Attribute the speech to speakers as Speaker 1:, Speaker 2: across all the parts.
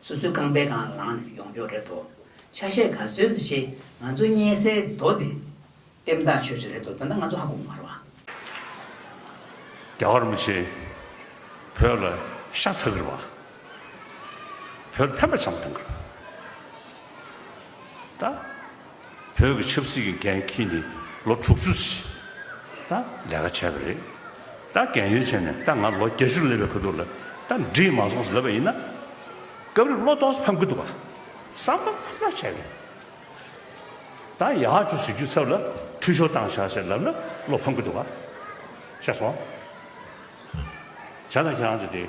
Speaker 1: སོ་སོའི་རྐང་པའི་གང་ལངས་ནས་ཡོང་ཀྱོག་རེད་དོ། ཆ་ཤས་ག་ཚོད་ཟེར་ཞེས་ང་ཚོ་བརྙས་སའི་མདོ་དེ། ལྟེམ་བཏགས་ཆོད་ཆོད་རེད་དོ་ད་ལྟ་ང་ཚོ་ཧ་གོ་གི་མ་རོ་ཨ། རྒྱ་
Speaker 2: གར་མི་ཆེན་བོད་ལ་ཤ་ཚ་གིར་བ། བོད་ཕན་པ་བྱམས་དང་གིར་བ། བོད་ཀྱི་ཆབ་སྲིད་ཀྱི་འགན་ཁྱེད་ནས་ལོ་དྲུག་ཅུ་ཟིན་ན་ལས་ཀ་བྱས་པ་རེད་ད་འགན་ཡོད་བྱས་ནས་ད་ང་ལོ་བརྒྱ་ཅུ་སླེབས་པའི་གོ་ཐུག་ལ་ད་འདྲིས་མ་སོང་ཟེར་བ་ཡིན་ན་སྐབས་རེ་བློ་དོགས་སུ་ཕམ་གི་འདུག་བསམ་པ་ཕམ་ཐག་ཆད་ཡོད་ད་ཡག་བཅུ་ཟེར་རྒྱུའི་ཚབ་ལ་འཐུས་ཤོར་བཏང་བཞག་ཞེས་ལབ་ན་བློ་ཕམ་གི་འདུག་བཤད་སོང་བྱས་ན་ཁྱེད་རང་ཚོ་དེ།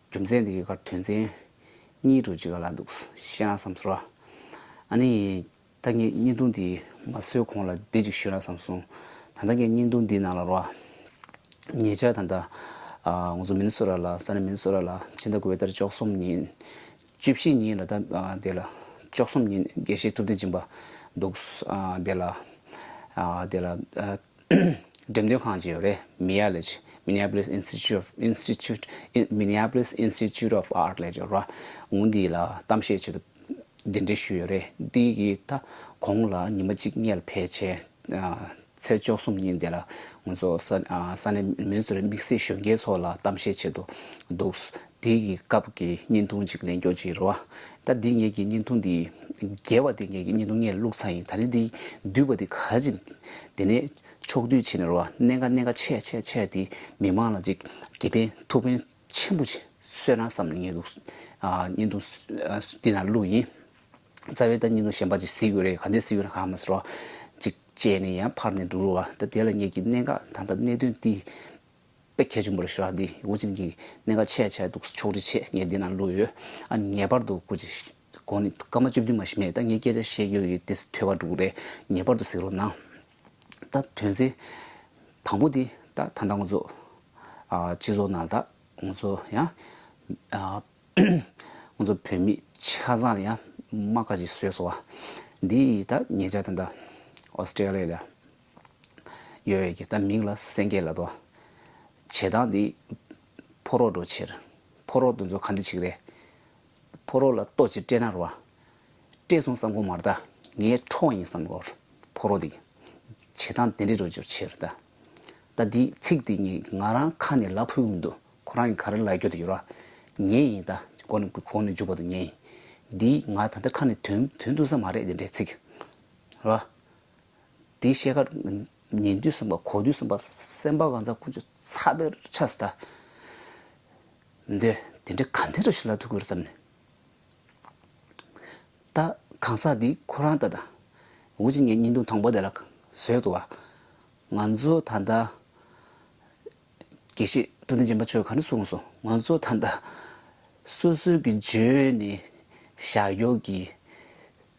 Speaker 3: རྒྱུ་མཚན་འདི་ཡི་གར་དོན་ཚན་གཉིས་དྲུག་ཅིག་ག་ལ་འདུག་ཤེས་ན་བསམ་ཟོ། ཨ་ནི། ད་ངས་བརྙན་ཐུང་འདི་མ་བཟོས་གོང་ལ་འདི་ཅིག་ཞུས་ན་བསམ་སོང། ད་ལྟ་ངས་བརྙན་ཐུང་འདིའི་ནང་ལ་རོ་ཨ། ངེད་ཅག་ད་ལྟ། ང་ཚོ་མིན་ན་སོ་ར་ལ་ས་ནས་མིན་ན་སོ་ར་ལ་ཕྱི་ཟླ་དགུ་བའི་ཟླ་རེ་བཅོ་གསུམ་ཉིན། བཅུ་བཞི་ཉིན་ལ་ད་དེ་ལ། བཅོ་གསུམ་ཉིན་དགེ་བཤེས་ཐུབ་བསྟན་སྦྱིན་པ་འདུག། དེ་ལ། དེ་ལ། འགྲེམས་སྟོན་ཁང་བཅས་ཡོད་རེད། Mialice། Minneapolis Institute of Institute Minneapolis Institute of Art ལས་འབྱོར་བ། ངོས་འདི་ལ་གཏམ་བཤད་བྱེད་དུ་གདན་འདྲེན་ཞུས་ཡོད་རེད། འདི་ཡི་ད་གོང་ལ་ཉི་མ་གཅིག་བསྙལ་བས་ཆེ། ཚེས་བཅོ་གསུམ་ཉིན་དེ་ལ་ངོས་ཚོ་ས་ས་གནས་མི་ཚོར་དམིགས་བསལ་གཞོན་སྐྱེས་ཚོ་ལ་གཏམ་བཤད་བྱེད་དུ་འདུག། དེ་ཡི་སྐབས་ཀྱི་བརྙན་ཐུང་ཅིག་ལེན་རྒྱོ་ཅི་རོ། ད་འདི་ངེད་ཀྱི་བརྙན་ཐུང་འདི། རྒྱལ་བ་དེ་ངེད་ཀྱི་བརྙན་ཐུང་ངས་བླུགས་ཚར་ཡིན་ད་ནི་འདི་བསྡུས་པ་འདི་ག་ཅིག། དེ་ནས་ཕྱོགས་བསྡུས་བྱེད་ནི་རོ། གནད་འགག་གནད་འགག་ཆད་ཆད་ཆད་དེ་མི་མང་ལ་ཅིག་དགེ་ཕན་ཐུགས་ཕན་ཆེན་པོ་སོས་ན་བསམ་ནས་ངས་བླུགས། བརྙན་ཐུང་འདི་ན་བླུགས་ཡིན། རྩ་བའི་ད་བརྙན་ཐུང་གཞན་པ་ཅིག་གཟིགས་དགོས་རེད་ག་འདི་གཟིགས་དགོས་ན་ག་མ་ཟེར་རོ། ཅིག་བཅད་ནས་ཡང་ཕར་ནས་འགྲོ་རུ་བ་ད་དེ་ལ་ངེད་ཀྱི་གནད་འགག་ད་ལྟ་གནད་དོན་འདི། པའི་ཁྱད་ཆུང་པོ་རེ་ཞུ་རག་འདིས་ཝུ་ཅིན་གྱི་གནད་འགག་ཆེ་ཆེ་འདུག་ཕྱོགས་རིས་ཆེ་ངས་འདི་ན་བླུགས་ཡོད་ཨ་ངེས་པར་དུ་ཀུ་ཅི་དགོན་ནི་སྐར་མ་བཅུ་བདུན་མ་ཞིག་མེད་ད་ངས་སྐད་ཆ་བཤད་རྒྱུ་ཡི་དེ་ཐོས་པ་འགྲུག་རེད་ངེས་པར་དུ་གཟིགས་རོགས་གནང། ད་དོན་ཚན་དང་པོ་འདི་ད་ད་ད་ང་ཚོ་སྤྱི་ཚོགས་ནང་ད་ང་ཚོ་ཡང་ང་ཚོ་བོད་མི་ཆ་ཚང་ལ་ཡང་དམག་ཁ་ཅིག་བཟོས་སོང་བ་འདིས་ད་ངེད་ཅག་དང་ད་ཨོ་སི་ཀྲེ་ལི་ཡ་ལ་ཡོད་ཡོད་ཀྱི་ད་མིང་ལ་སེང་གེ་ལ་དོ། བྱེ་ཐང་འདི་ཕོ་རོག་འགྲོ་ཕྱིར། ཕོ་རོག་འདི་ཚོ་ག་འདི་ཆིག་རེད། ཕོ་རོག་ལ་ལྟོ་ཅི་སྤྲད་ན་རོ། སྤྲད་སོང་བསམ་ཁོ་མར་ད་ངའི་འཕྲོག་ཡིན་བསམ་གོ། ཕོ་རོག་འདིས། བྱེ་ཐང་འདི་འདྲས་འགྲོ་འཇུར་ཕྱིར་ད། ད་འདིས་ཚིག་འདི་ངས་ང་རང་ཁ་ནས་ལ་ཕུལ་འོང་འདུག་ཁོ་རང་གི་ག་རེ་ལ་སྐྱོ་དེ་ཡོད་རོགས། ངས་ཡིན་ད་གོ་ནས་གོ་ནས་འཇུག་པ་དང་ངས་ཡིན། འདིས་ང་ད་ལྟ་ཁ་ནས་དོན་དོན་འདུག་ས་མ་རེད་འདི་འདྲས་ཚིག། རོགས། དེའི་ཤེལ་དཀར། ཉེ་འདུས་སེམས་དཔའ་གོ་འདུས་སེམས་དཔའ་སེམས་དཔའ་གང་ཟག་ཀུན་སྤྱོད་ཚ་བའི་ཕྱག་སྟ། འདི་དེ་འདྲའི་གང་དེ་འདྲ་ཞིག་ལ་ཐུག་གི་རེད་བསམ་ནས། ད་གང་ཟག་འདིས་ཁོ་རང་ད་དང། འུ་ཅིག་ངའི་སྙིང་དུང་དང་པོ་དེ་ལ་བཟོས་ཏོ། ང་ཚོ་ད་ལྟ། དགེ་བཤེས་ཏུ་ཏིང་འཛིན་པ་ཆོས་གང་འདྲ་གསུངས་སོང་ང་ཚོ་ད་ལྟ། སོ་སོའི་གི་ཇོ་ནི་ཞག་གཡོག་གི།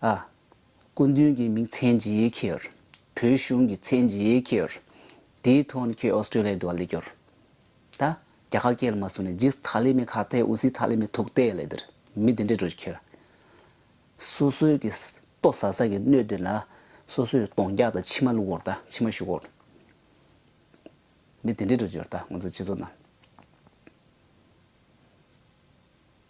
Speaker 3: ཨ། སྐུ་མདུན་གྱི་མིང་ཚན་ཇི་ཡིས་ཁྱེར། བོད་གཞུང་གི་མཚན་ཇི་ཡིས་ཁྱེར། དེའི་ཐོག་ཁྱོད་ཨོ་སྟྲེ་ལི་ཡར་འགྲོ་བ་ལས་སྐྱོར། ད། རྒྱ་ཁ་སྐད་ལ་མ་སུ་ནས་ཇིས་ཐ་ལི་མེ་ཁ་ཐའི་ཨུ་སི་ཐ་ལི་མེ་ཐུག་ཏའི་ལས་འདིར་མི་དེ་འདྲས་འགྲོ་རྒྱུ་ཁྱེར། སོ་སོའི་གི་ཏོ་ཟ་ཟ་གི་སྣོད་དེ་ལ་སོ་སོའི་གདོང་རྒྱག་དང་མཆི་མ་བླུག་འོར་ད་མཆི་མ་བཞུགས་འོར། མི་དེ་འདྲས་འགྲོ་རྒྱུར་ད་ང་ཚོ་སྤྱི་ཚོགས་ནང།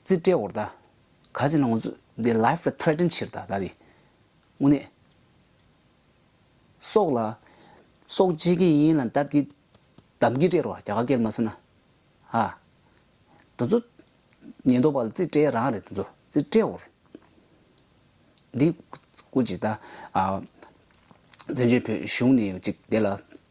Speaker 3: རྩིས་སྤྲད་འོག་ད་ག་ཅིག་ན་ང་ཚོ་འདི life ལ threaten ཕྱིར་ད་ད་གི་དངོས་གནས་སྲོག་ལ་སྲོག་བྱེད་ཀྱི་ཡིན་ལ་ད་འདི་གདམ་གྱི་སྤྲད་རོགས་རྒྱ་གར་སྐད་མ་ཟེར་ན་ཧ། དེ་ཚོ་ཉེན་རྟོག་པ་ལ་རྩིས་སྤྲད་རང་རེད་དེ་ཚོ་རྩིས་སྤྲད་འོག་འདི་ཀུ་ཅིག་ད་བཙན་བྱོལ་བོད་གཞུང་ནས་ཅིག་དེ་ལ་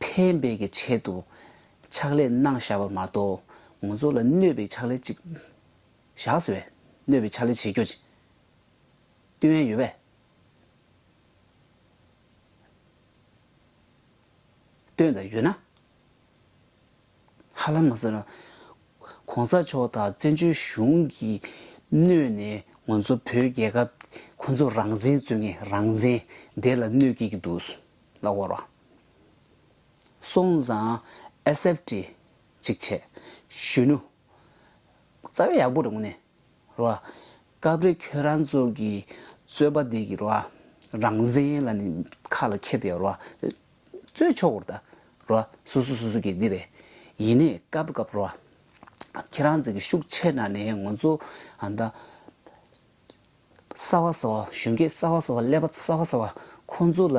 Speaker 3: ཕན་པའི་གི་ཆེད་དུ་ཕྱག་ལས་གནང་བཞག་པ་མ་གཏོགས་ངོ་ཚོ་ལ་གནོད་པའི་ཕྱག་ལས་ཅིག་བཞག་ཟེར་བས་གནོད་པའི་ཕྱག་ལས་བྱེད་རྒྱུ་ཅི་ལྟོས་དབན་ཡོད་པས། ལྟོས་དང་ཡོད་ན། ཧ་ལམ་མ་ཟེར་ན། གོང་ས་མཆོག་དང་བཙན་བྱོལ་གཞུང་གི་གནོད་ནས་ངོ་ཚོ་བོད་རྒྱལ་ཁབ་ཁོ་ཚོ་རང་བཙན་རྩོད་མཁན་རང་བཙན་དེ་ལ་གནོད་སྐྱེལ་གྱི་འདུག་ལ་བོར་བ། སོང་ཙང SFT གཅིག་བྱས། གཞོན་ནུ། རྩ་བའི་ཡག་པོ་རེད་མོ་ནས། རེད་བ། སྐབས་རེ་ཁྱོད་རང་ཚོ་གི་རྩོད་པ་འདི་གི་རེད་བ། རང་བཙན་ལ་ནི་ཁ་ལ་འཁྱེར་དེ་རེད་བ། རྩོད་ཆོག་གོ་རེད་ད། རེད་བ། སོ་སོ་སོ་སོ་གི་འདི་རེད། ཡིན་ནས་སྐབས་རེ་སྐབས་རེད་བ། ཁྱེད་རང་ཚོ་གི་ཤུགས་ཆེ་ན་ནས་ངོ་ཚོ་ཨ་མདའ། གསར་བ་གསར་བ་གཞོན་སྐྱེས་གསར་བ་གསར་བ་ཀླད་པ་གསར་བ་གསར་བ་ཁོང་ཚོ་ལ་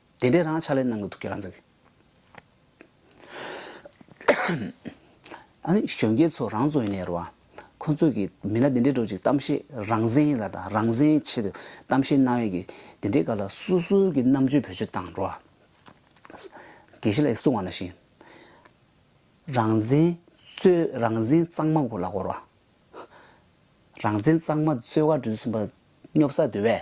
Speaker 3: དེ་འདྲའི་རང་ཕྱག་ལས་གནང་གི་འདུག་ཁྱེད་རང་ཚོས། ཨ་ནི་གཞོན་སྐྱེས་ཚོ་རང་ཚོ་ཡིན་ནའི་རེད་བ། ཁོ་ཚོས་ཀྱི་མི་སྣ་དེ་འདྲའི་འགྲོ་ཅིག་གཏམ་བཤད་རང་བཙན་ལ་དང་རང་བཙན་ཆེད་དུ་གཏམ་བཤད་གནང་ཡས་ཀྱི་དེ་འདྲའི་སྐབས་ལ་སུ་སུ་ཀྱི་རྣམ་དཔྱོད་བེད་སྤྱོད་བཏང་འགྲོ། དགེ་བཤེས་ལགས་ཀྱི་གསུང་བ་ན་བཞིན། རང་བཙན་རྩོད་རང་བཙན་གཙང་མ་གོ་ལ་བོར་བ། རང་བཙན་གཙང་མ་རྩོད་བ་འགྲུལ་བཞིན་པ་སྙོབ་ས་དེ་བས།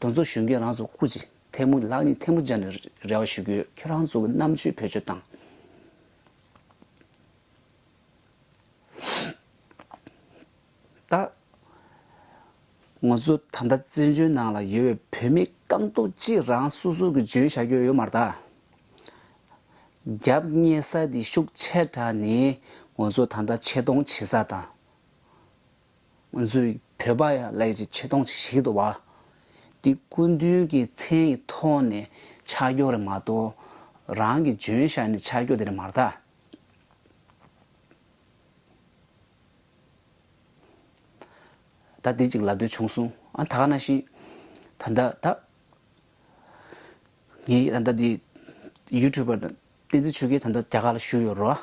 Speaker 3: དོན་གཙོ་གཞོན་སྐྱེས་རང་ཚོ་སྐུ་ཅིག་ཐལ་མོ་ལག་གཉིས་ཐལ་མོ་སྦྱར་ནས་རེ་བ་ཞུ་གི་ཁྱོད་རང་ཚོ་གི་རྣམ་དཔྱོད་བེད་སྤྱོད་དང། ད་ང་ཚོ་ད་ལྟ་བཙན་བྱོལ་ནང་ལ་ཡོད་པའི་བོད་མི་རྐང་སྟོབས་གཅིག་རང་སོ་སོ་གི་འཇོན་བྱ་ཁྱོ་ཡོད་མ་རྟགས། རྒྱབ་གཉེར་ས་དེ་ཤུགས་ཆེ་དྲགས་ནས་ང་ཚོ་ད་ལྟ་ཆེ་མཐོང་བྱེད་ས་དང། མཛོད་བོད་པ་ཡང་ལས་ཀྱི་ཆེ་མཐོང་ཞིག་དུ་བ། འདི་སྐུ་མདུན་གྱི་མཚན་ཡི་ཐོག་ནས་ཆ་སྐྱོ་རེ་མ་གཏོགས་རང་གི་འཇོན་བཞག་ནས་ཆ་སྐྱོ་དེ་རེ་མ་རྟགས། ད་འདི་ཅིག་ལབ་འདོད་བྱུང་གསུང་ཨ་ད་ག་ན་ཤི། ད་ད་ད། ངའི་ད་ད་འདི་ཡུ་ཐུ་བར་དང། བསྟན་འཛིན་ཆོས་རྒྱལ་ད་ལྟ་རྒྱ་གར་ལ་བཞུགས་ཡོད་རོ།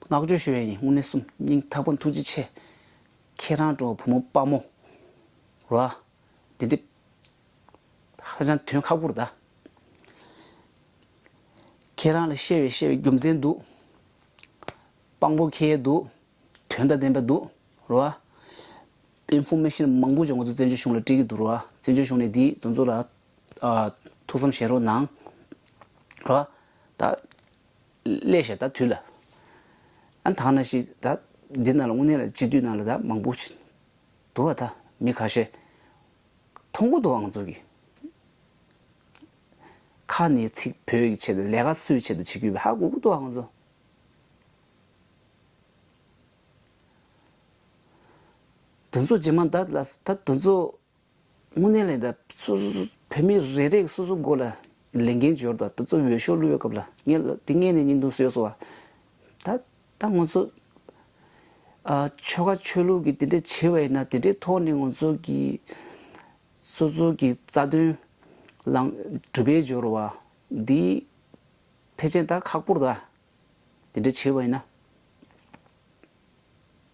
Speaker 3: བསྔགས་བརྗོད་ཤོད་ཡ་ཡིན་དངོས་གནས་སུ་སྙིང་ཐག་པ་ཐུགས་རྗེ་ཆེ། ཁྱེད་རང་འགྲོ་བ་བུ་མོ་དཔའ་མོ་རོ། དེ་འདྲས་ཧ་ཅང་དོན་ཁག་པོར་གདའ། ཁྱེད་རང་ལ་བཤད་བའི་བཤད་བའི་རྒྱུ་མཚན་འདུག། དཔང་པོ་ཁེལ་ཡས་འདུག་དོན་དང་ལྡན་པ་འདུག་རོ། དཔེ་འཕུང་མེད་བཞིན་མང་པོ་ཅིག་ང་ཚོ་བཙན་བྱོལ་གཞུང་ལ་སྤྲད་ཀྱི་འདུག་རོ། བཙན་བྱོལ་གཞུང་ནས་འདིའི་དོན་ཚོ་ལ་ཐུགས་བསམ་བཞེས་རོགས་གནང། སླད་ཞག་ད་དུས་ལ། ཨ་ཐང་ན་ཤི་ད་འདི་ན་ལ་དངོས་གནས་ལ་སྤྱི་འཐུས་ན་ལ་ད་མང་པོ། དུ་བ་ད་མི་ཁ་ཤས། ཐོང་གོ་དུའང་ཚོགས་ཀྱི། ཁ་ནི་ཚིག་བོད་ཀྱི་ཆེད་དུ་ལས་ཀ་སུའི་ཆེད་དུ་བྱེད་ཀྱི་ཡོད་པ་ཧ་གོ་གོ་དུའང་ཚོགས། དོན་ཚོགས་ཇེ་མང་ད་ལ་ད་དོན་ཚོགས། དངོས་གནས་ལན། སོ་སོ་སོ་བོད་མི་རེ་རེས་སོ་སོའི་མགོ་ལ་ལས་འགན་འབྱོར་དང་ད་ཚོ་འོས་ཤོག་བླུ་བའི་སྐབས་ལ་ངས་དེ་སྔས་ནས་སྙིང་དུ་གསོས་སོང་བ། ད་ད་ང་ཚོ། ཆོལ་ཁ་ཆོས་ལུགས་ཀྱི་དེ་འདྲས་བྱེད་པ་ཡིན་ན་དེ་འདྲའི་ཐོག་ནས་ང་ཚོ་གི། སོ་སོ་གི་རྩ་དོན་ལངས་གྲུབ་པའི་འབྱོར་བ་འདི། ཕལ་ཆེན་ད་ཁག་པོར་ད་དེ་འདྲས་བྱེད་པ་ཡིན་ན།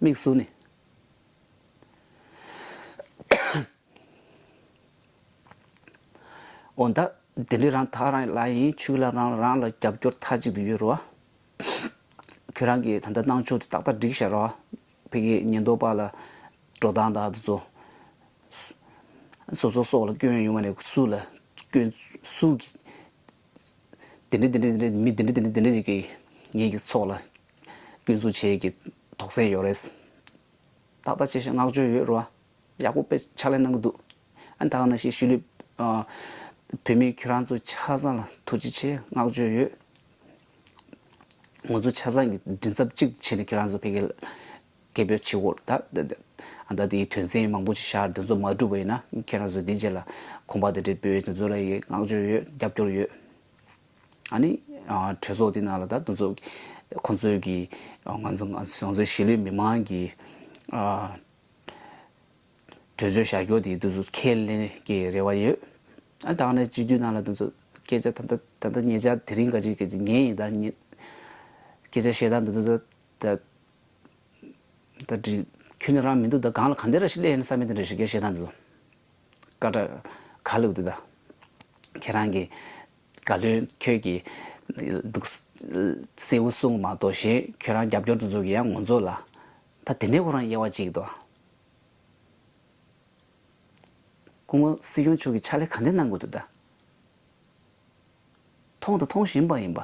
Speaker 3: དམིགས་སུ་ནི། འོ་ད་དེ་འདྲའི་རང་ཐག་རང་ལ་ཡིན་ཆུག་ལ་རང་རང་ལ་རྒྱབ་སྐྱོར་མཐའ་གཅིག་ཏུ་ཡོད་རུང་ཨ། ཁྱོད་རང་གིས་ད་ལྟ་གནང་ཕྱོགས་དེ་ཏག་ཏག་བསྒྲིགས་ཤག་རོགས་ཨ། ཕེ་གིས་ཉེན་རྟོག་པ་ལ་འགྲོ་སྟངས་དང་དུ་ཚོད། བཟོ་ཚོགས་སོགས་ལ་སྐྱོན་ཡོང་བ་ནས་སུ་ལ་སྐྱོན། སུ་གིས་དེ་འདྲ་དེ་འདྲ་དེ་འདྲ་མི་དེ་འདྲ་དེ་འདྲ་དེ་འདྲ་ཞིག་གིས་ངེད་ཀྱི་ཚོགས་ལ་ཀུན་བཟོ་བྱེད་ཀྱི་དོགས་སེལ་ཡོད་རེད། ཏག་ཏག་བྱས་ཤིང་བསྔགས་བརྗོད་ཡོད་རེད། ཡག་པོ་དཔེ་ཕྱག་ལས་གནང་གི་འདུག། ཨ་ད་ག་ནང་བཞིན་ཤུལ་ལུས། བོད་མི་ཁྱོད་རང་ཚོ་ཆ་ཚང་ལ་ཐུགས་རྗེ་ཆེ་བསྔགས་བརྗོད་ཡོད། ངོ་ཚོ་ཆ་ཚང་གི་མགྲིན་ཚབ་གཅིག་ཏུ་བྱས་ནས་ཁྱོད་རང་ཚོ་ཕལ་སྐད་སྐད་འབོད་བྱེད་འོག་ཨ་ད་དེའི་དོན་ཚན་མང་པོ་ཞིག་ཤར་དེ་ཚོ་མ་འགྲུབ་པ་ཡིན་ན་ཁྱོད་རང་ཚོ་དེའི་རྗེས་ལ་ཁོམ་པ་དེ་འདྲའི་འབོད་ཡོད་ཚུལ་ཚོ་ལ་ཡི་དབང་བསྔགས་བརྗོད་ཡོད་རྒྱབ་སྐྱོར་ཡོད། ཨཱ་ནི། གྲོས་ཚོགས་དེ་ནང་ལ་ད་དུང་ཚོགས། ཁོང་ཚོས་ཀྱི། ང་ཚོ་ང་ཚོའི་གཞིས་ལུས་མི་དམངས་ཀྱི། གྲོས་ཆོད་བྱ་རྒྱུ་དེ་དུས་ཚོད་ཁས་ལེན་གྱི་རེ་བ་ཡོད། ཨ་ད་ནི་སྤྱི་འཐུས་ནང་ལ་དུས་ཚོད་སྐད་ཆ་ད་ལྟ་ད་ལྟ་ངེད་ཅག་དེ་རིང་ག་ཅིག་གི་ཉིན་ཡིན་ད་ངེད། སྐད་ཆ་བཤད་སྟངས་དུ་ད་ད་ད་དྲི། ཁྱོད་ནི་རང་མི་འདུག་ད་གང་ལ་གང་འདི་ར་ཤི་ལས་ཡིན་ས་མི་དེ་འདྲ་ཞིག་ག་བཤད་སྟངས་དུ། ཀ་བྲག། ག་ལུགས་དུ་ད། ཁྱེད་རང་གི། བཀའ་བློན་ཁྱོད་ཀྱིས་འདུག། སེའུ་གསུང་མ་གཏོགས་གཞན་ཁྱོད་རང་རྒྱབ་སྐྱོར་དུ་འཛུགས་ཀྱི་ཡང་ངོ་མཚོ་ལ། ད་དེ་འདྲའི་ཁོ་རང་དབྱེ་བ་གཅིག་ཏུ། སྐུ་ངོ་སྲིད་སྐྱོང་མཆོག་གིས་ཕྱག་ལས་གང་འདི་གནང་དགོས་འདུག་ད། མཐོང་དང་མཐོང་བཞིན་པ་ཡིན་པ།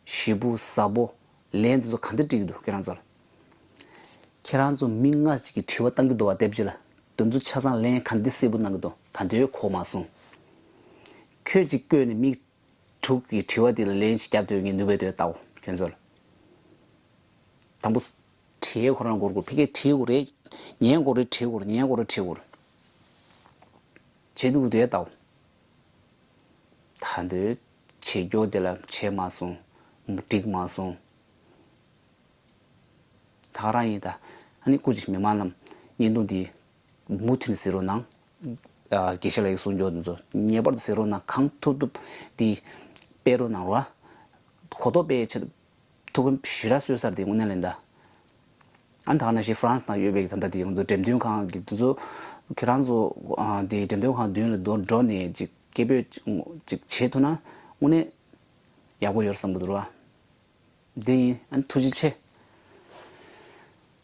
Speaker 3: བཞི་པོ་ཟ་བོ། ལན་དེ་ཚོ་ག་འདི་བཀྲིས་ཀྱི་འདུག་ཁྱེད་རང་ཚོར། ཁྱེད་རང་ཚོ་མི་ལྔ་ཞིག་གིས་དྲི་བ་བཏང་གི་འདུག་བ་དེབ་ཅིག་ལ་དེ་ཚོ་ཆ་ཚང་ལན་ག་འདི་གསལ་པོ་གནང་གི་འདུག་ད་འདིར་གོ་མ་སོང། ཁྱོད་ཅིག་བསྐོས་ནས་མིག། དྲུག་གིས་དྲི་བ་དེ་ལ་ལན་ཞིག་བརྒྱབ་འདོད་ངེས་ནུས་པའི་དོད་ལྟའོ་ཁྱོད་ཚོར། དང་པོ། དྲིའི་གོ་ར་མགོར་བསྐོར་ཕི་ཁའི་དྲིའི་གོ་རེ། ཉའི་གོ་རེ་དྲིའི་གོ་རེ་ཉའི་གོ་རེ་དྲིའི་གོ་རེ། བྱེད་འདུག་གི་དོད་ལྟའོ། ད་འདོད། བྱེད་རྒྱུ་དེ་ལ་བྱས་མ་སོང། འགྲིག་མ་སོང། ད་ག་རང་ཡིན་ད། ཨ་ནི་སྐུ་ཅིག་མི་མ་ལམ། བརྙན་ཐུང་འདི། མུ་མཐུད་ནས་ཟེར་རོ་གནང། དགེ་བཤེས་ལགས་ཀྱི་གསུང་མགྱོགས་འདི་ཚོ་ངེས་པར་དུ་ཟེར་རོ་གནང་གང་ཐུབ་ཐུབ་དེ། སྤེལ་རོ་གནང་རོགས། གོ་རྟོགས་སྤེལ་བའི་ཆེད་དུ། ཐུགས་བུམ་བཞི་ར་གསོལ་གསར་དེ་དངོས་གནས་ལེན་གདའ། ཨ་མདའ་ནས་ཤི་ཧྥ་རན་སི་དང་ཡོད་པའི་ད་ལྟ་དེ་ཚོ་འགྲེམས་སྟོན་ཁང་གི་དེ་ཚོ་ཁྱེད་རང་ཚོ་དེ་འགྲེམས་སྟོན་ཁང་མདུན་ལ་འགྲོ་འགྲོ་ནས་ཅིག་སྐད་འབོད་ཅིག་བྱེད་ཐུབ་ན་དངོས་གནས་ཡག་པོ་ཡོད་བསམ་གི་འདུག་ར། འདི་ཡིན་ཨ་ནི་ཐུགས་རྗེ་ཆེ།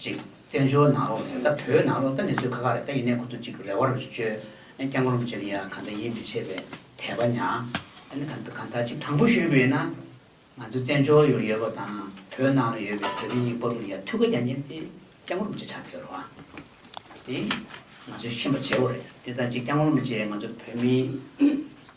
Speaker 1: ཅིག། བཙན་བྱོལ་ནང་ལོག་ནས་ད་བོད་ནང་ལོག་ད་ནི་ཚོད་ཁ་ཁ་རེད་ད་ཡིན་ནའི་ཁོ་ཚོ་ཅིག་རེ་བར་བཅོལ། ཨེ་སྐྱག་ངོ་རུམ་བྱེད་ནི་ཡ་ག་ད་ཡིད་མི་ཆེས་པའི་དད་པ་ཉག་ཨེ་ནི་ག་ག་ད་ཅིག་དྲང་པོ་ཞུས་དགོས་ཡིན་ན། ང་ཚོ་བཙན་བྱོལ་ཡོ་ཡོད་པ་དང་བོད་ནང་ལ་ཡོད་པའི་བོད་མི་ཡིག་པ་རུ་ཡ་ཐུགས་ཀ་རྒྱ་ཉེན་ཏེ་སྐྱག་ངོ་རུམ་བྱེད་ཆགས་ཕེར་བ། དེ་ང་ཚོས་ཤེས་པ་བྱས་བོ་རེད་དེ་ད་ཅིག་སྐྱག་ངོ་རུམ་བྱེད་ང་ཚོ་བོད་མི།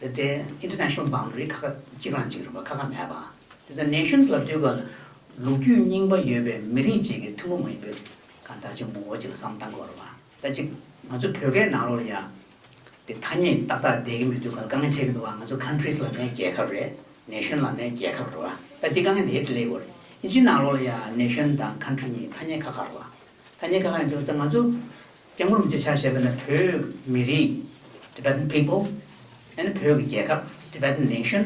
Speaker 1: དེ་ལྟའི International Boundary ཁ་ཁ་གཅིག་རང་གཅིག་རིང་བ་ཁ་ཁ་མེད་པ། དེ་ཚོ Nations ལ་བསྡུས་པ་ལ་ལུགས་རྒྱུས་རྙིང་པ་ཡོད་པའི་མི་རིགས་གཅིག་གི་ཐུན་མོང་མ་ཡིན་པའི་གང་ཟག་ཆེན་མོ་འོ་གཅིག་ལ་བསམ་སྟངས་གོ། ད་ཅིག་ང་ཚོའི་བོད་སྐད་ནང་ལོགས་ལ་ཡང་དེ་ཐ་སྙད་ཏག་ཏག་བསྡད་ཀྱི་མི་འདུག་ག་ལ་དཀའ་ངལ་འཕྲད་ཀྱི་འདུག་བ་ང་ཚོ Countries ལ་ནས་རྒྱལ་ཁབ་རེད Nation ལ་ནས་རྒྱལ་ཁབ་རེད་བ། ད་དེ་དཀའ་ངལ་དེ་ལས་གོ། ཨིན་ཇིའི་ནང་ལོགས་ལ་ཡང Nation དང Country གཉིས་ཐ་སྙད་ཁ་ཁ་རེད་བ། ཐ་སྙད་གང་ཡང་འཇོག་ཚེ་ང་ཚོ་སྐྱེ་ཁམས་བརྗིད་ཆགས་ཞེས་པ་ནི་བོད་མི་རིགས Tibetan People ཡང་ན་བོད་ཀྱི་རྒྱལ་ཁབ Tibetan Nation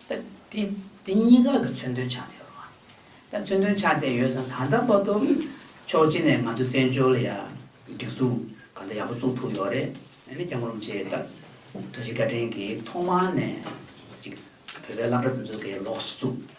Speaker 1: ད་དེ་དེ་གཉིས་ཀ་གི་མཚོན་དོན་ཆགས་བསྡད་ཡོད་པ། ད་མཚོན་དོན་ཆགས་བསྡད་ཡོད་ས་ད་ལྟ་བར་དུ་ཕྱོགས་གཅིག་ནས་ང་ཚོ་བཙན་བྱོལ་ལ་ཡ་སྒྲིག་འཛུགས་གང་འདྲ་ཡག་པོ་བཙུགས་ཐུབ་ཡོད་རེད་ཡང་ན་སྐྱེ་ཁམས་བརྗིད་ད་ཐུགས་རྗེ་བཀའ་དྲིན་གྱིས་ཐོག་མ་ནས་ཅིག་བོད་པའི་བླ་གྲྭ་དེ་ཚོ་གི་ལོགས་སུ་བཙུགས།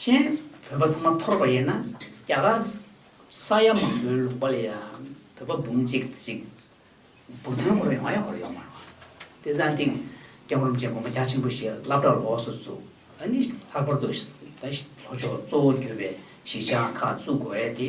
Speaker 1: གཞན། བོད་པ་ཚང་མ་འཐོར་བ་ཡིན་ན་རྒྱ་གར། ས་ཡ་མང་པོའི་ལུང་པ་ལ་ཡང་བོད་པ་འབུམ་གཅིག་གཅིག། སྦུག་ཐོན་སྐོར་ཡོང་ཡ་ཧོར་ཡོང་མ་རུང། དེ་བཟང་སྟེང། སྐྱག་རུམ་ཅན་དགོན་པ་རྒྱ་ཆེན་པོ་ཞིག་བླ་བྲག་ལོགས་སུ་བཙུགས། ཨ་ནི་ལྷག་པར་དུ། ལྷོ་ཕྱོགས་གཙོ་བོ་གྱུར་པའི་གཞིས་ཆགས་ཁག་བཙུགས་དགོས་ཡ་དེ།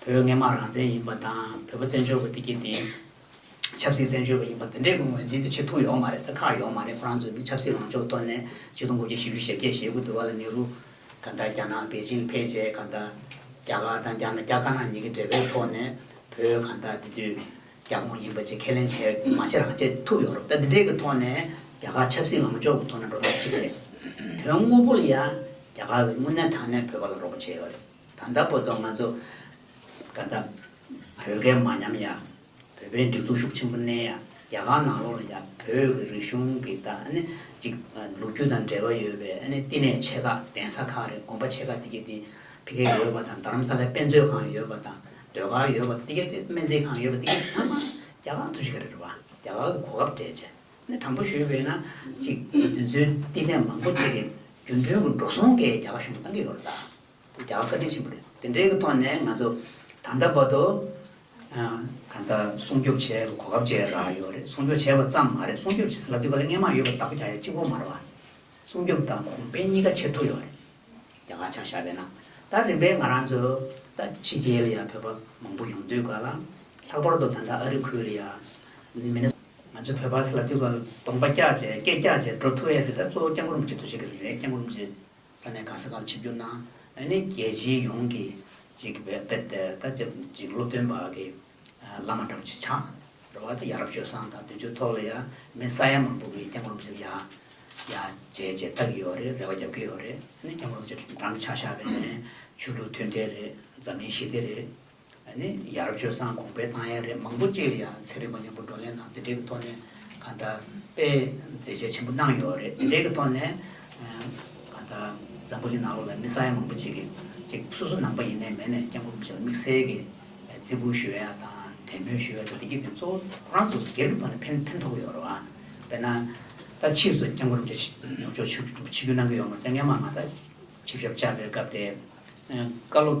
Speaker 1: བོད་སྔས་མ་རང་བཙན་ཡིན་པ་དང་བོད་པ་བཙན་བྱོལ་བ་དེ་གྱིས་དེ་ཆབ་སྲིད་བཙན་བྱོལ་བ་ཡིན་པ་དེ་འདྲའི་གི་ངོས་འཛིན་དེ་ཆེ་ཐུག་ཡོག་མ་རེད་ད་ཁག་ཡོག་མ་རེད་ཁོ་རང་ཚོས་ནི་ཆབ་སྲིད་ལངས་ཕྱོགས་གཏོར་ནས་ཆིག་སྟོང་དགུ་བརྒྱ་བཞི་ཅུ་ཞེ་བརྒྱད་ཞེ་དགུ་དུ་བ་ལ་ནེ་རུ་གང་ད་རྒྱ་ནག་པེ་ཅིང་ཕེད་ཅེས་གང་ད་རྒྱ་གར་དང་རྒྱ་ནག་རྒྱ་དཀར་ནག་གཉིས་ཀྱི་འབྲེལ་བའི་ཐོག་ནས་བོད་གང་ད་དེ་དུས་རྒྱ་ཁོངས་ཡིན་པ་ཅེས་ཁས་ལེན་བྱས་མ་བྱས་རང་བྱས་ཐུག་ཡོག་རེད་ད་དེ་འདྲའི་གི་ཐོག་ནས་རྒྱ་གར་ཆབ་སྲིད་ལངས་ཕྱོགས་གི་ཐོག་ནས་འགྲོ་ཐབས་ཅི་རེད་དོན་དངོས་པོ་ལ་ཡང་རྒྱ་གར་གི་དངོས་གནས་ཐང་ནས་བོད་པ་ལ་རོགས་པ་བྱས་ཡོག་རེད། ད་ལྟ་བོད་དོན་ང་ཚོ་ག་ད་བོད་སྐད་མ་ཉམས་ཡ་བོད་པའི་སྒྲིག་འཛུགས་ཤུགས་ཆེན་པོ་གནས་ཡ་རྒྱ་གར་ནང་ལོག་ལ་ཡ་བོད་ཀྱི་རིག་གཞུང་གི་ད་ཨ་ནི་ཅིག་ལུགས་རྒྱུ་དང་འབྲེལ་བ་ཡོད་པའི་ཨ་ནི་བསྟི་གནས་ཆེ་ཁག་གདན་ས་ཁག་རེད་དགོན་པ་ཆེ་ཁག་དེ་གེ་དེ་ཕི་གེ་ཡོད་པ་དང་རྡ་རམ་ས་ལའི་དཔེ་མཛོད་ཁང་ཡོད་པ་དང་ཟློས་གར་ཡོད་པ་དེ་གེ་དེ་སྨན་རྩིས་ཁང་ཡོད་པ་དེ་གེ་ཚང་མ་རྒྱ་གར་དུ་ཞིག་ག་རེད་བ་རྒྱ་གར་གྱི་གོ་སྐབས་སྤྲད་ནས་དྲང་པོ་ཞུས་པས་ན་ཅིག་དེ་ཚོའི་བསྟི་གནས་མང་པོ་ཆེ་གེ་རྒྱུ་འགྲུལ་གྱི་འགྲོ་སོང་གེ་རྒྱ་གར་གཞུང་གིས་གཏང་གི་ཡོད་རེད་ད། འདི་ཀྱང་བཀའ་དྲིན་ཆེན་པོ་རེད། དེ་འབྲེལ་གྱི་ཐོག་ནས་ང་ཚོ་ད་ལྟ་བར་དུ། ད་ལྟ་སྲུང་སྐྱོབ་བྱེད་པའི་གོ་སྐབས་བཅས་རག་ཡོད་རེད། སྲུང་སྐྱོབ་བྱས་པ་ཙམ་མ་རེད་སྲུང་སྐྱོབ་བྱེད་ས་ལ་དུས་བཀག་ལས་ལྔའི་མང་ཡོད་པ་ལྟ་བུ་ཀྱང་ཡོད་གཅིག་པོ་མ་རེད། སྲུང་སྐྱོབ་དང་གོང་སྤེལ་གཉིས་ཀ་བྱེད་ཐུབ་ཡོད་རེད། རྒྱ་གར་ཆང་ཤ་བས་ན་ད་རིམ་པས་ང་རང་ཚོ་ད་ཕྱི་རྒྱལ་ལ་ཡང་བོད་པ་མང་པོ་ཡོང་དུས་ག་ལ། ལྷག་པར་དུ་ད་ལྟ་ཨ་རི་ཁུལ་ལ་ཡང། མི་ནི། ང་ཚོ་བོད་པ་ས་ལ་དུས་བཀག་ལ་གདོང་པ་བཀྱགས་བྱས་སྐད་བཀྱགས་བྱས་འགྲོ་ཐུ་ཨེ་ཡོད་དེ་ད་གཙོ་བོ་སྐྱབས་མགོན་རིན་པོ་ཆེ་ཐུགས་རྗེ་གི་རེད་སྐྱབས་མགོན་རིན་པོ་ཆེ། ས་གནས་གང་ས་གང་ཆིབས་བསྒྱུར་གནང། ཨ་ནི་རྒྱལ་སྤྱིའི་ཡོངས་ཀྱི་ཅིག་བེད་དེ་ད་ཅིག་སློབ་སྟོན་པ་གི་བླ་མ་གྲགས་ཅིག་ཆགས། རེ་བ་དེ་ཡ་རབས་སྤྱོད་བཟང་དང་དུས་ཚོད་ཐོག་ལ་ཡ་མི་ས་ཡ་མང་པོ་གི་སྐྱབས་མགོན་ཞིག་ཡ་ཡ་བྱེད་ཅེས་ལྟ་གི་ཡོད་རེད་རེ་བ་རྒྱབ་ཀྱི་ཡོད་རེད་ཨ་ནི་སྐྱབས་མགོན་ཅིག་འགྲམ་ཆགས་ཤག་པའི་ནས་ཆོས་ལུགས་མཐུན་འབྲེལ་རེད་འཛམ་གླིང་ཞི་བདེ་རེད། ནི་ཡ་རབས་སྤྱོད་བཟང་གོང་འཕེལ་བཏང་ཡས་རེད་མང་པོ་གཅིག་ལ་ཡ་ཚད་རིག་པ་མཉམ་པོ་བགྲོ་གླེང་དང་དེ་འབྲེལ་གྱི་ཐོག་ནས་གང་ལྟར་དཔེ་མཛེས་ཆ་ཆེན་པོ་གནང་ཡོད་རེད་དེ་འབྲེལ་གྱི་ཐོག་ནས་གང་ལྟར་འཛམ་བུ་གྱི་ནང་ལོགས་ལ་མི་ས་ཡ་མང་པོ་གཅིག་གཅིག་སོ་སོ་ནང་པ་ཡིན་ནའི་མེད་ནས་སྐྱབས་མགོན་པོ་ཆེ་ལ་དམིགས་བསལ་གྱི་བརྩི་བཀུར་ཞུ་ཡ་དང་དད་མོས་ཞུ་ཡ་དང་བདེ་སྐྱིད་དེ་གཙོ་བོ་ཁོ་རང་ཚོ་སྒེར་གྱི་ཐོག་ནས་ཕན་ཕན་ཐོགས་ཡོད་རེད་བ་དཔེར་ན་ད་ཕྱིས་སུ་སྐྱབས་མགོན་པོ་ཆེ་ནུབ་ཕྱོགས་ཆིབས་ཆིབས་བསྒྱུར་གནང་གི་ཡོད་མ་རེད་དེ་སྔའི་མ་ང་ད་ཆིབས་ཞབས་བཅར་བའི་སྐབས་དེ་བཀའ་སློབ།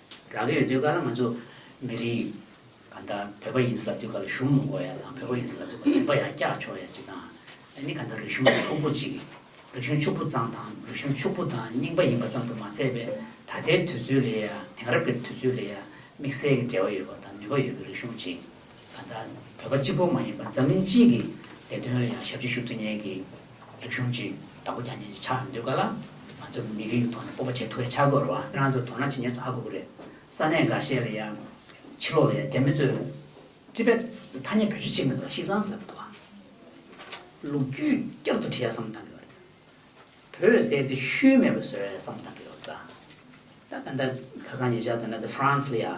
Speaker 1: རང་གི་ཡོད་དུས་ག་ལ་ང་ཚོ་མི་རིགས་ག་འདྲ་བོད་པ་ཡིན་ཟེར་ལབ་དུས་ག་ལ་གཞུང་མོ་མགོ་ཡ་དང་བོད་པ་ཡིན་ཟེར་ལབ་དུས་ག་ལ་རིག་པ་ཡང་སྐྱག་ཆོ་ཡ་ཅིག་དང་ཨེ་ནི་ག་འདྲ་རིག་གཞུང་གི་ཕྱུག་པོ་ཅིག་རིག་གཞུང་ཕྱུག་པོ་ཙམ་དང་རིག་གཞུང་ཕྱུག་པོ་དང་རྙིང་པ་ཡིན་པ་ཙམ་དུ་མ་ཟད་པའི་ད་ལྟའི་དུས་ཚོད་ལས་ཡ་དེང་རབས་ཀྱི་དུས་ཚོད་ལས་ཡ་དམིགས་བསལ་གྱི་འབྲེལ་བ་ཡོད་པ་དང་ནུས་པ་ཡོད་པའི་རིག་གཞུང་ཅིག། ད་ལྟ་བོད་པ་གཅིག་པོ་མ་ཡིན་པར་འཛམ་གླིང་སྤྱི་ཡི་བདེ་དོན་ལ་ཡང་ཞབས་ཕྱི་ཞུ་ཐུབ་མཁན་གྱི་རིག་གཞུང་གཅིག་བདག་པོ་རྒྱ་ཉེན་གྱི་ཆགས་འདུག་ག་ལ་ང་ཚོ་མི་རིགས་ཀྱི་ཐོག་ནས་སྤོབས་པ་བྱེད་ཐུབ་པའི་ཆགས་དགོས་ར་བ། ཁྱེད་རང་ཚོ་དོ་སྣང་བྱེད་མྱོང་ཚོ་ཧ་གོ་གི་རེད། ས་གནས་འགའ་ཤས་ལ་ཡང། ཕྱི་ལོགས་ལ་ཡང་རྒྱ་མི་ཚོས། Tibets། ཐ་སྙད་བེད་སྤྱོད་བྱེད་མི་འདུག་ལ་ཤིས་ཙང་སི་ལ་བོད་དབང། ལུགས་རྒྱུས་བསྐྱར་དུ་བྲི་ཡ་བསམ་བཏང་གི་ཡོད་རེད། བོད་བསད་དེ་ཤུལ་མེད་པ་བཟོ་ཡ་བསམ་བཏང་གི་ཡོད་རེད། ད་ལྟ་ཁ་སང་ཉེ་ཆར་དུ་ན་ཏི་ཧྥ་རན་སི་ལ་ཡང།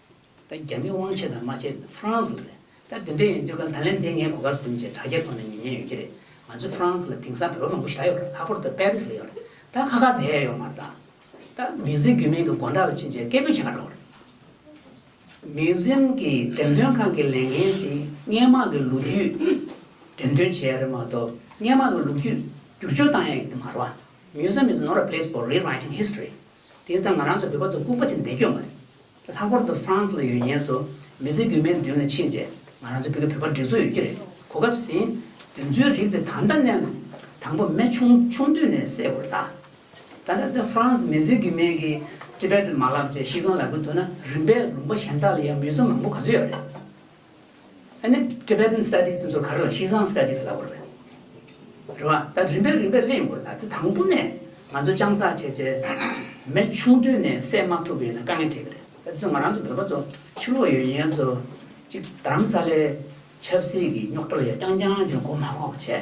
Speaker 1: ད་རྒྱ་མི་དབང་ཆེ་དང་དམའ་ཆེ་ཧྥ་རན་སི་ལ་རེད། ད་དེ་འདྲ་ཡིན་དུས་སྐབས་ད་ལན་དེ་ངའི་གོ་སྐབས་ཟིན་རྗེས་དྲ་རྒྱའི་ཐོག་ནས་ཉེ་ཉེ་ཡོད་ཀྱི་རེད། ང་ཚོའི་ཧྥ་རན་སི་ལ་དེང་སང་བོད་པ་མང་པོ་བཞག་ཡོད་རེད་ལྷག་པོར་ད་པེ་རི་སི་ལ་ཡོད་རེད། ད་ཁ་ཁ་བསྡད་ཡོད་མ་རེད། ད་མིའུ་ཟིའམ་གུས་མིང་གི་དགོན་གྲྭ་ལ་ཕྱིན་རྗེས་སྐད་འབོད་བྱེད་ཀ་འགྲོ་གི་རེད། མིའུ་ཟིའམ་གྱི་འགྲེམས་སྟོན་ཁང་གི་ལས་འགན་དེ་སྔས་མག་གི་ལོ་རྒྱུས་འགྲེམས་སྟོན་བྱེད་ཡ་རེད་མ་གཏོགས་སྔས་མག་གི་ལོ་རྒྱུས་བསྒྱུར་བཅོས་བཏང་ཡ་ཡིན་གྱི་མ་རེད། Museum is not a place for rewriting history། དེང་སང་ང་རང་ཚོ་བོད་པ་ཚོ་ལྐུག་པ་ཅན་འདེད་སྐྱོད་མ་རེད། ལྷག་པར་དུ France ལ་ཡོད་ཉེན་ཚོ་མི་ཚེ་སྒྱུ་མའི་མདུན་ལ་ཕྱིན་རྗེས་ང་རང་ཚོ་ཕི་གི་བོད་པ་འགྲིག་ཚོ་ཡོད་ཀྱི་རེད་གོ་སྐབས་ཟིན། དེ་ཚོའི་རིགས་དེ་ད་ལྟ་གནས་ན། དང་པོ་མེ་ཆུང་ཆུང་དུས་ནས་བསད་དགོས་རེད་ད། ད་ལྟ་དེ France མི་ཚེ་སྒྱུ་མའི་གི Tibetan མ་ལག་བཅས་གཤིས་གཙང་ལ་བུད་འདུག་ན་རིམ་པས་ལུང་པ་གཞན་དག་ལ་ཡང་མི་ཚོ་མང་པོ་ག་ཚོད་ཡོད་རེད། ནི Tibetan Studies དེ་ཚོ་ག་རེ་ལ Xizang Studies ལབ་དགོས་རེད། རེད་བ། ད་རིམ་པས་རིམ་པས་གླེང་དགོས་རེད། དེ་དང་པོ་ནས་ང་ཚོ་སྤྱང་བསགས་བྱས་བྱས་མེ་ཆུང་དུས་ནས་བསད་མ་ཐུབ་པ་ཡིན་ན་དཀའ་ངལ་འཕྲད་གི་རེད། ད་དེ་ཚོ་ང་རང་ཚོ་བོད་པ་ཚོ་ཕྱི་ལོགས་ཡོད་ཡིན་ཡང་ཚོ་གཅིག་དྷརམ་ས་ལའི་ཆབ་སྲིད་ཀྱི་རྙོག་དྲ་ལ་ཡང་རྐྱང་རྐྱང་བྱས་ན་གོ་མ་གོ་བ་བྱས།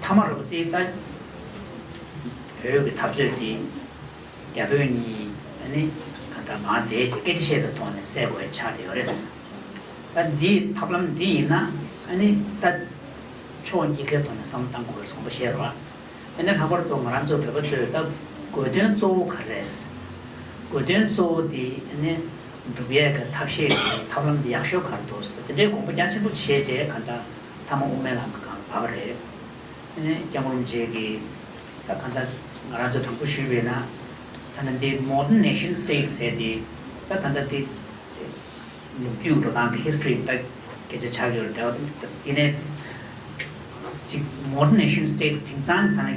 Speaker 1: མཐའ་མ་རོབ་རྩེའི་རྟ། བོད་ཀྱི་འཐབ་རྩོད་དེ་རྒྱ་བོད་གཉིས་ནི་ད་ལྟ་མར་འདས་རྗེས་སྐད་ཆ་བཤད་པའི་ཐོག་ནས་སེལ་དགོས་པའི་ཆ་དེ་ཡོད་རེད། ད་འདི་ཐབས་ལམ་འདི་ཡིན་ན་ནི་ད་ཕྱོགས་གཉིས་ཀའི་ཐོག་ནས་བསམ་བློ་གཏང་དགོས་པའི་དགོངས་པ་བཞེས་རོགས། དེ་ནས་ལྷག་པར་དུ་ང་རང་ཚོ་བོད་པ་ཚོས་ད་དགོས་དོན་གཙོ་བོ་ག་རེད། དགོས་དོན་གཙོ་བོ་དེ་ནི་འབྲུག་ཡས་ཀྱི་ཐབས་ཤེས་དེ་ཐབས་ལམ་དེ་ཡག་ཤོས་ག་རེ་འདུག་དེ་འདྲའི་དགོངས་པ་རྒྱ་ཆེན་པོ་བཞེས་རྗེས་ག་ད། ཐ་མ་དབུ་མའི་ལམ་གྱི་ཁང་བབས་པ་རེད། ཨེ་ནས་སྐྱབས་ཀླུ་མཇལ་གི། ད་གང་ལྟར་ང་རང་ཚོ་དྲང་པོ་ཞུས་པས་ན། ཐ་ན་འདི Modern Nation State ཟེར་ཏེ། ད་གང་ལྟར་འདི། ལུགས་རྒྱུད་འགྲོ་སྟངས་ཀྱི History ལྟ་གི་ཆ་ཆགས་ཡོད་རེད། འདི་ནས། ཅིག Modern Nation State དེང་སང་ད་ནི།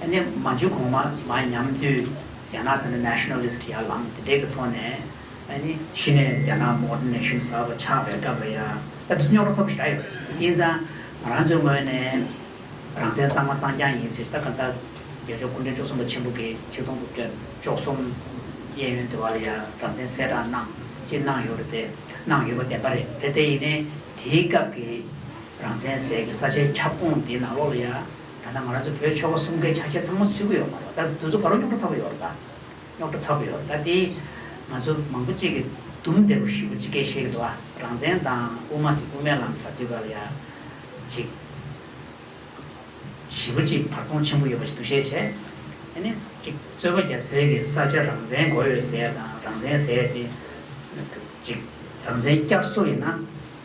Speaker 1: དེ་ནས་མ་འཇུག་གོང་མ་མ་ཉམས་དུས་རྒྱ་ནག་དེ་ནི Nationalist ཡར་ལངས་དེ་འདྲའི་གི་ཐོག་ནས་ནི་གཞི་ནས་རྒྱ་ནག Modern Nation གསར་བ་ཆགས་པའི་སྐབས་ལ་ཡང་ད་དུ་རྙོག་དྲ་ཚོགས་པ་ཞིག་ག་ཡོད་རེད་དབྱིན་ཙང་ང་རང་ཚོའི་ངོས་ནས་རང་བཙན་གཙང་མ་གཙང་རྐྱང་ཡིན་ཟེར་ད་ག་འདྲ་རྒྱལ་ཕྱོགས་སྐུ་མགྲོན་བཅུ་གསུམ་པ་ཆེན་པོ་གི་ཆིག་སྟོང་དགུ་བརྒྱ་བཅོ་གསུམ་གཡས་གཡོན་དེ་བ་ལ་ཡང་རང་བཙན་གསལ་བསྒྲགས་གནང་ཅིག་གནང་ཡོད་རེད་དེ་གནང་ཡོད་པ་བདེན་པ་རེད་རེད་དེ་ཡིན་ནའི་དེའི་སྐབས་ཀྱི་རང་བཙན་ཟེར་གི་ས་ཆའི་ཁྱབ་ཁོངས་དེའི་ནང་ལོགས་ལ་ཡང། ད་ལྟ་ང་རང་ཚོ་བོད་ཆོལ་ཁ་གསུམ་ཀའི་ཆ་ཤས་ཚང་མ་ཚུད་ཀྱི་ཡོད་མ་རེད། ད་དུས་ཚོད་ག་རེ་རྙོག་དྲ་ཚ་བོ་ཡོད་རེད་ད། རྙོག་དྲ་ཚ་བོ་ཡོད་རེད་ད་དེ། ང་ཚོ་མང་པོ་གཅིག་གིས་དུམ་བདེ་པོ་ཞུས་པ་གཅིག་གས་ཤེས་ཀྱི་འདུག་ཨ། རང་བཙན་དང་དབུ་མ་ཟེར་དབུ་མའི་ལམ་ཟེར་དུས་ག་ལ་ཡ། གཅིག། བཞི་པོ་གཅིག་བར་སྟོང་ཆེན་པོ་ཡོད་པ་ཞིག་འདུག་ཤེས་བྱས། དེ་ནི་གཅིག་རྩོད་པ་བརྒྱབ་ཟེར་གི་ས་ཆ་རང་བཙན་གོ་ཡོད་ཟེར་དང་རང་བཙན་ཟེར་ཏེ། གཅིག། རང་བཙན་བསྐྱར་གསོ་ཡིན་ན།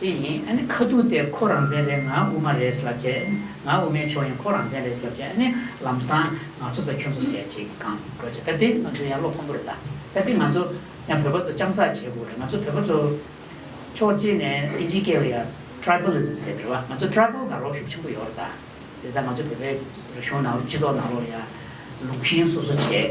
Speaker 1: དེ་ཡིན་ཨ་ནི་ཁ་ཐུག་དེ་ཁོ་རང་བཙན་རེད་ང་དབུ་མ་རེད་ལབ་བྱས་ཨ་ནི་ང་དབུ་མའི་ཕྱོགས་ཡིན་ཁོ་རང་བཙན་རེད་ལབ་བྱས་ཨ་ནི་ལམ་སང་ང་ཚོ་དང་ཁྱོད་ཚོ་ཟེར་ཅིག་གང་འགྲོ་བྱས་ད་དེ་ང་ཚོ་ཡང་བློ་ཕམ་པོ་རེད་ད་ད་དེ་ང་ཚོ་ཡང་བོད་པ་ཚོ་རྐྱང་ཚགས་བྱེད་དགོས་རེད་ང་ཚོ་བོད་པ་ཚོ་ཕྱོགས་གཅིག་ནས་ཨིན་ཇི་སྐད་ལ་ཡང Tribalism ཟེར་རེད་བ་ང་ཚོ Tribal དང་རོགས་ཤུགས་ཆེན་པོ་ཡོད་རེད་ད་དེ་ས་ང་ཚོ་བོད་པའི་རིག་གཞུང་ནང་ལོ་སྤྱི་ཚོགས་ནང་ལོ་ཡང་ལུགས་བཞིན་སོ་སོ་བྱས།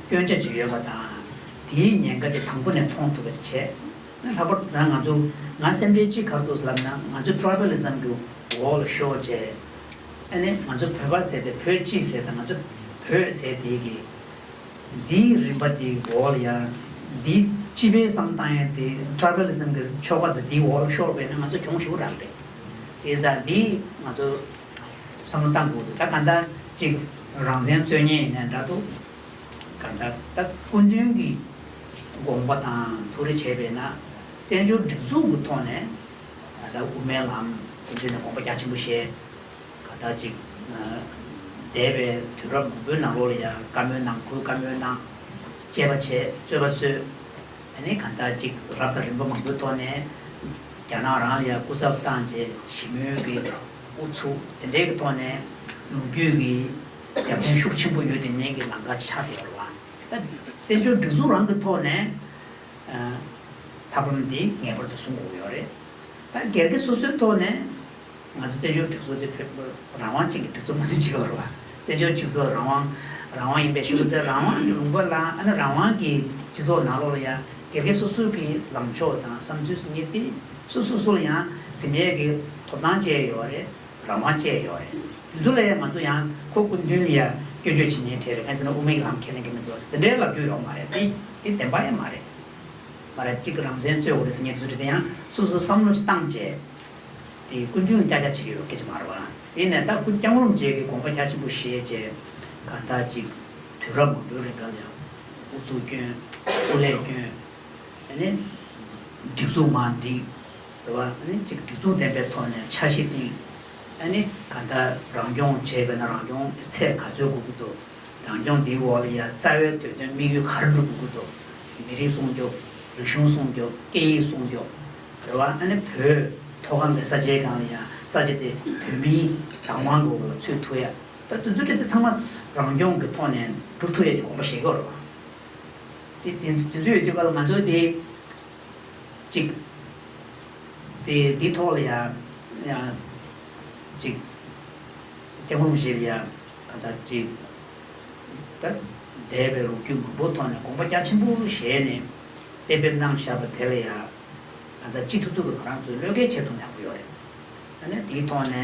Speaker 1: སྐྱོན་ཆ་ཅི་ཡོད་པ་དང་དེའི་ཉེན་ཁ་དེ་དང་པོ་ནས་མཐོང་ཐུབ་པ་ཅིག་བྱས་ན་ལྷག་པར་དུ་ང་ཚོ་ང་སེམས་ཁྲལ་ཅི་ག་འདུག་ཟེར་ན་ང་ཚོ Tribalism གྱི་འོག་ལ་ཤོར་རྗེས་ཨ་ནི་ང་ཚོ་བོད་པ་ཟེར་ཏེ་བོད་སྤྱི་ཟེར་དང་ང་ཚོ་བོད་ཟེར་དེ་གི་དེའི་རིམ་པ་དེའི་འོག་ལ་ཡང་དེའི་སྤྱི་པའི་བསམ་སྟངས་ཡང་དེ Tribalism གྱི་ཆོ་ག་དང་དེའི་འོག་ལ་ཤོར་བས་ན་ང་ཚོ་གྱོང་ཞུ་རག་རེད་དེ་ཙང་དེའི་ང་ཚོ། བསམ་བློ་བཏང་དགོས་འདུག་ད་གང་ལྟར་གཅིག་རང་བཙན་རྩོད་ཉེས་ཡིན་ནའི་འདྲ་འདུག་གང་ལྟར་ད་སྐུ་མདུན་གྱི་དགོངས་པ་དང་ཐུགས་རེ་བྱས་པས་ན་བཙན་བྱོལ་སྒྲིག་འཛུགས་ཀྱི་ཐོག་ནས་ད་ལྟ་དབུ་མའི་ལམ་དེ་མདུན་ནས་དགོངས་པ་རྒྱ་ཆེན་པོ་བཞེས་གང་ལྟར་གཅིག་འདས་པའི་དུས་རབས་མང་པོའི་ནང་ལོགས་ལ་ཡང་བཀའ་མོལ་གནང་ཁུལ་བཀའ་མོལ་གནང་དཔྱད་པ་བྱས་རྩོད་པ་རྩོད། ད་ནི་གང་ལྟར་ཅིག་རབ་དང་རིམ་པ་མང་པོའི་ཐོག་ནས་རྒྱ་ནག་རང་ལ་ཡང་སྐུ་ཚབ་བཏང་རྗེས་ཞི་མོལ་གྱི་ཨུ་ཚུགས་དེ་འདྲའི་གི་ཐོག་ནས་ལོ་རྒྱུས་ཀྱི་རྒྱབ་རྟེན་ཤུགས་ཆེན་པོ་ཡོད་དེ་ཉིད་ཀྱི་ལང་ཀ་ཆགས་བསྡད་ཡོད་ལ། ད་བཙན་བྱོལ་སྒྲིག་འཛུགས་རང་གི་ཐོག་ནས་ཐབས་ལམ་དེ་ངེས་པར་དུ་བཟུང་དགོས་ཀྱི་ཡོད་རེད། ད་སྒེར་གྱི་སོ་སོའི་ཐོག་ནས། ང་ཚོ་བཙན་བྱོལ་སྒྲིག་འཛུགས་དེ་བོད་མི་རང་དབང་ཅན་གྱི་སྒྲིག་འཛུགས་མ་ཟིན་ཇི་བར་བ། བཙན་བྱོལ་སྤྱི་ཚོགས་རང་དབང་རང་དབང་ཡིན་པའི་ཤུགས་དེ་རང་དབང་གི་ལུང་པ་ལ་ཨ་ནི་རང་དབང་གི་སྤྱི་ཚོགས་ནང་ལོགས་ལ་ཡང་དགེ་རྒན་སོ་སོའི་གི་ལངས་ཕྱོགས་དང་བསམ་ཚུལ་ཟིན་ངེས་ཏེ་སུ་སོ་སོར་ཡང་ཟིན་ངེས་ཀྱི་ཐོབ་ཐང་བཅས་ཡོད་བ་རེད་རང་དབང་བཅས་ཡོད་བ་རེད་དེ་ཚོ་ལ་ཡང་ང་ཚོ་ཡང་ཁོ་སྐུ་མདུན་ཡང་སྐྱོན་བརྗོད་བྱེད་ཉེན་ཁྲེལ་རེད་གང་ཟེར་ན་དབུ་མའི་ལམ་ཁས་ལེན་གྱི་མི་འདུག་དེ་འདྲའི་ལབ་རྒྱུ་ཡོག་མ་རེད་དེ་དེ་བདེན་པ་ཡང་མ་རེད། མ་རེད་གཅིག་རང་བཙན་རྩོད་འོ་རེད་ཟིན་ངེས་དེ་ཚོ་དེ་དེ་ཡང་སུ་སོ་བསམ་བློ་ཅི་བཏང་བཅས། དེ་ཀུན་ཅུང་སྐྱ་སྐྱ་བྱེད་ཀྱི་ཡོད་སྐད་ཅིག་མ་རེད། དེ་ནས་ད་ཀུན་ཀྱང་རུམ་བརྗེས་ཀྱི་དགོངས་པ་རྒྱ་ཆེན་པོ་བཞེས་རྗེས། ག་ད་ཅིག་དུས་རབས་མང་པོའི་རིང་སྐབས་ཡང། ཨུ་ཚུགས་སྐྱོན། ཨུ་ལས་སྐྱོན། ཨ་ནི། སྒྲིག་འཛུགས་མ་འགྲིག། རེ་བ་ཨ་ནི་ཅིག་སྒྲིག་འཛུགས་ལྡན་པའི་ཐོག་ནས་འཆར་གཞི་བཏིང། ཨ་ནི་ག་ད་རང་སྐྱོང་བྱས་པས་ན་རང་སྐྱོང་གི་ཚད་ག་ཚོད་འགུག་གི་འདུག་རང་སྐྱོང་དེའི་འོག་ལ་ཡ་རྩ་བའི་དོད་དོན་དམིགས་ཡུལ་ག་རེ་འགྲུབ་དགོས་ཀྱི་འདུག་མི་རིགས་སྲུང་སྐྱོབ། རིག་གཞུང་སྲུང་སྐྱོབ་སྐད་ཡིག་སྲུང་སྐྱོབ། རེ་བ་ནི་བོད་མཐོ་སྒང་གི་ས་ཆའི་སྒང་ལ་ཡང་ས་ཆ་དེ་བོད་མིའི་བདག་དབང་གི་འོག་ལ་ཚུད་ཐུབ་ཡ། ད་དུས་ཚོད་དེ་ཚང་མ་རང་སྐྱོང་གི་ཐོག་ནས་སྒྲུབ་ཐུབ་ཡ་ཅིག་གོམ་པ་བཞེས་དགོས་རེད། དེ་དེ་ཚོ་ཡོད་དུས་ཀ་ལ་ང་ཚོ་དེ་ཅིག་དེ་དེ་ཐོག་ལ་ཡང་ཡང་ཅིག་སྐྱག་འབུམ་བཞེས་ལ་ཡ་ག་ད་ཅིག་ད་འདས་པའི་ལོ་རྒྱུས་མང་པོ་ཐོག་ནས་གོམ་པ་རྒྱ་ཆེན་པོ་བཞེས་ནས། གཏན་འབེབས་གནང་བཞག་པ་དེ་ལ་ཡང་ད་ལྟ་སྤྱི་འཐུས་ཐུག་གི་བ་རང་ཚོས་བློས་འགེལ་བྱེད་ཐུབ་མྱངས་པོ་ཡོད་རེད། ད་ནས་དེའི་ཐོག་ནས་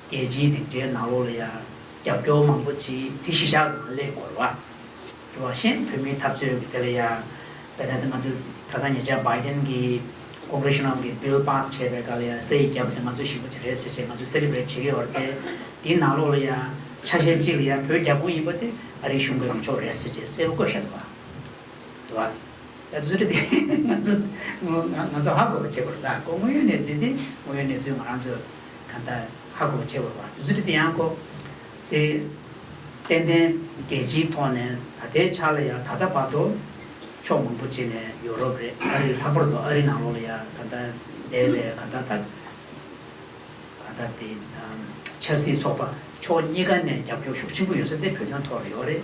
Speaker 1: རྒྱལ་སྤྱིའི་སྡིངས་ཆའི་ནང་ལོགས་ལ་ཡང་རྒྱབ་སྐྱོར་མང་པོ་བྱེད་དེ་གཞི་བཞག་ལ་སླེབས་དགོས་རེད་བ། དེ་བ་གཞན་བོད་མིའི་འཐབ་རྩོད་ཀྱི་དེ་ལ་ཡང་བལྟས་ན་དེ་ང་ཚོས་ཁ་སང་ཉེ་ཆར Biden གྱི Congressional གྱི Bill Pass བྱས་པའི་སྐབས་ལ་ཡང་སེ་ཡིས་བརྒྱབ་པ་དེ་ང་ཚོས་ཞིབ་པོ་བྱེད་རེས་བྱེད་བྱེད་ང་ཚོས་གསལ་འདེབས་རེ་བྱེད་ཀྱི་ཡོད་རེད་དེ། དེའི་ནང་ལོགས་ལ་ཡང་ཆ་ཤས་གཅིག་ལ་ཡང་བོད་རྒྱ་དགོས་ཡིན་པ་དེ་ཨ་རིའི་གཞུང་གི་ལངས་ཕྱོགས་རེད་ཟེར་བྱེད་གསལ་པོ་བཀོད་བཞག་འདུག་བ། དོ་ཨ། ད་བཟོད་ཁྲི་དེ་ང་ཚོ་ང་ཚོ་ཧ་གོ་བ་བྱེད་དགོས་རེད་ད་གོ་ངོ་ཡོད་གནས་ཚུལ་དེ་ངོ་ཡོད་གནས་ཚུལ་ང་རང་ཚོ་གང་ལྟར་ཧ་གོ་བ་བྱེད་དགོས་རེད་ད་བཟོད་ཁྲི་དེ་ཡང་གོ། དེ་ཏན་ཏན་རྒྱལ་སྤྱིའི་ཐོག་ནས་ད་ལྟའི་ཆར་ལ་ཡང་ད་ལྟ་བར་དུ་ཕྱོགས་མང་པོ་བྱས་ནས་ཡོ་རོབ་རེད་ཨ་རི་ལྷག་པར་དུ་ཨ་རི་ནང་ལོགས་ལ་ཡང་གང་ལྟར་འདས་པའི་གང་ལྟར་ད་གང་ལྟར་དེ་ཆབ་སྲིད་ཚོགས་པ་ཕྱོགས་གཉིས་ཀ་ནས་རྒྱབ་སྐྱོར་ཤུགས་ཆེན་པོ་ཡོད་ས་དེ་བོད་དོན་ཐོག་ལ་ཡོད་རེད།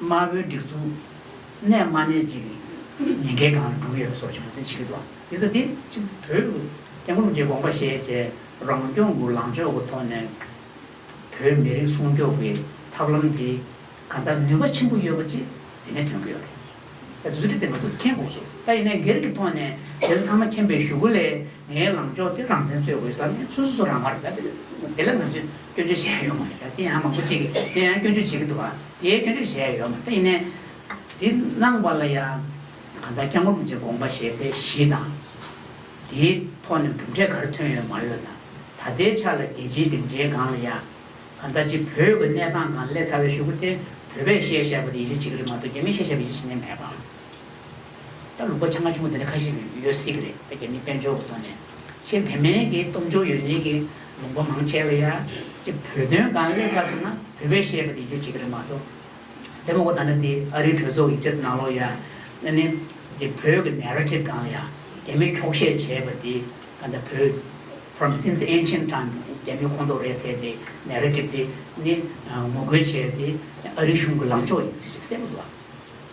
Speaker 1: དམར་པོའི་སྒྲིག་འཛུགས། གནས་དམར་གནས་ཅིག་ཉེན་ཁའི་སྒང་འགྲོ་གི་ཡོད་པ་སོགས་བྱུང་ཚེ་ཇི་སྐད་དུ། དེ་ཚོ་དེ་ཕྱིན་བོད་ཀྱི་སྐྱབས་མགོན་གྱི་དགོངས་པ་བཞེས་རྗེས་རང་སྐྱོང་གི་ལངས་ཕྱོགས་ཀྱི་ཐོག་ནས་བོད་མི་རིགས་སྲུང་སྐྱོབ་ཀྱི་ཐབས་ལམ་དེ་ག་འདྲ་ནུས་པ་ཆེན་པོ་ཡོད་པ་ཅིག་དེ་ནས་ཐོན་གྱི་ཡོད་རེད། ད་དུས་ཚོད་དེ་མ་ཐུག་ཁྱེད་འགོག་ཚུལ་ད་ཡིན་ན་སྒེར་གྱི་ཐོག་ནས་དེ་ཚོ་ཚང་མ་མཁྱེན་པའི་ཞུ་སྒོ་ལས་ངའི་ལངས་ཕྱོགས་དེ་རང་བཙན་རྩོད་དགོས་ས་ནི་སོ་སོ་སོ་རང་མ་རེད་ད་དེ་ལ་ང་ཚོས་སྐྱོན་བརྗོད་བྱེད་ཡ་ཡོད་མ་རེད་ད་དེ་ཡང་མང་པོ་ཅིག་གིས་དེ་ཡང་སྐྱོན་བརྗོད་བྱེད་ཀྱི་འདུག་དེ་སྐྱོན་བརྗོད་བྱེད་ཡ་ཡོད་མ་རེད་ད་ཡིན་ནའི། དེ་གནང་བ་ལ་ཡང་གང་ལྟར་སྐྱབས་མགོན་རིན་པོ་ཆེ་དགོངས་པ་བཞེས་སའི་གཞི་དང། དེའི་ཐོག་ནས་གྲུབ་འབྲས་ག་རེ་ཐོན་ཡོད་མ་ཡོད་དང་ད་ལྟའི་ཆ་ལ་རྒྱལ་སྤྱིའི་སྡིངས་ཆའི་སྒང་ལ་ཡང། གང་ལྟར་གཅིག་བོད་ཀྱི་གནས་སྟངས་གང་ལེགས་ཚར་བའི་ཞུ་སྒོ་དེ་བོད་པས་བཤད་བཤད་པ་དེ་ཡིད་ཆེས་བྱེད་ཀྱི་རེད་མ་གཏོགས་རྒྱ་མིས་བཤད་བཤད་པ་ཡིད་ཆེས་བྱེད་ནས་མེད་པ། ད་ལུག་པ་ཆ་ང་ཆུང་བ་དེ་འདྲ་ཁ་ཤས་ཡོད་སྲིད་ཀྱི་རེད་ད་རྒྱ་མིའི་དཔལ་འབྱོར་གོ་ཐོག་ནས་ཕྱིར་དེ་མིན་གྱི་སྟོབས་འབྱོར་ཡོད་མཁན་གྱི་ལུང་པ་མང་ཆེ་ལ་ཡ་ཅེ་བོད་དོན་གང་སླེ་ཚར་སོང་ན་བོད་པས་བཤད་པ་དེ་ཡིད་ཆེས་བྱེད་ཀྱི་རེད་མ་གཏོགས། དེ་མ་གོ་ད་ནི་དེ་ཨ་རིའི་གྲོས་ཚོགས་ཡིག་ཆ་དེ་ནང་ལོག་ཡ་ན་ནི་དེ་བོད་ཀྱི Narrative གང་ལ་ཡ་རྒྱ་མིས་འཁྱོག་བཤད་བྱས་པ་དེ་ག་ད་བོད From since ancient time རྒྱ་མིའི་ཁོངས་གཏོགས་རེད་ཟེར་དེ Narrative དེ་ནི་ངོ་རྒོལ་བྱས་དེ་ཨ་རིའི་གཞུང་གི་ལངས་ཕྱོགས་ཡིན་ཟེར་ཞིག་གསལ་པོ་འདུག་ཨ།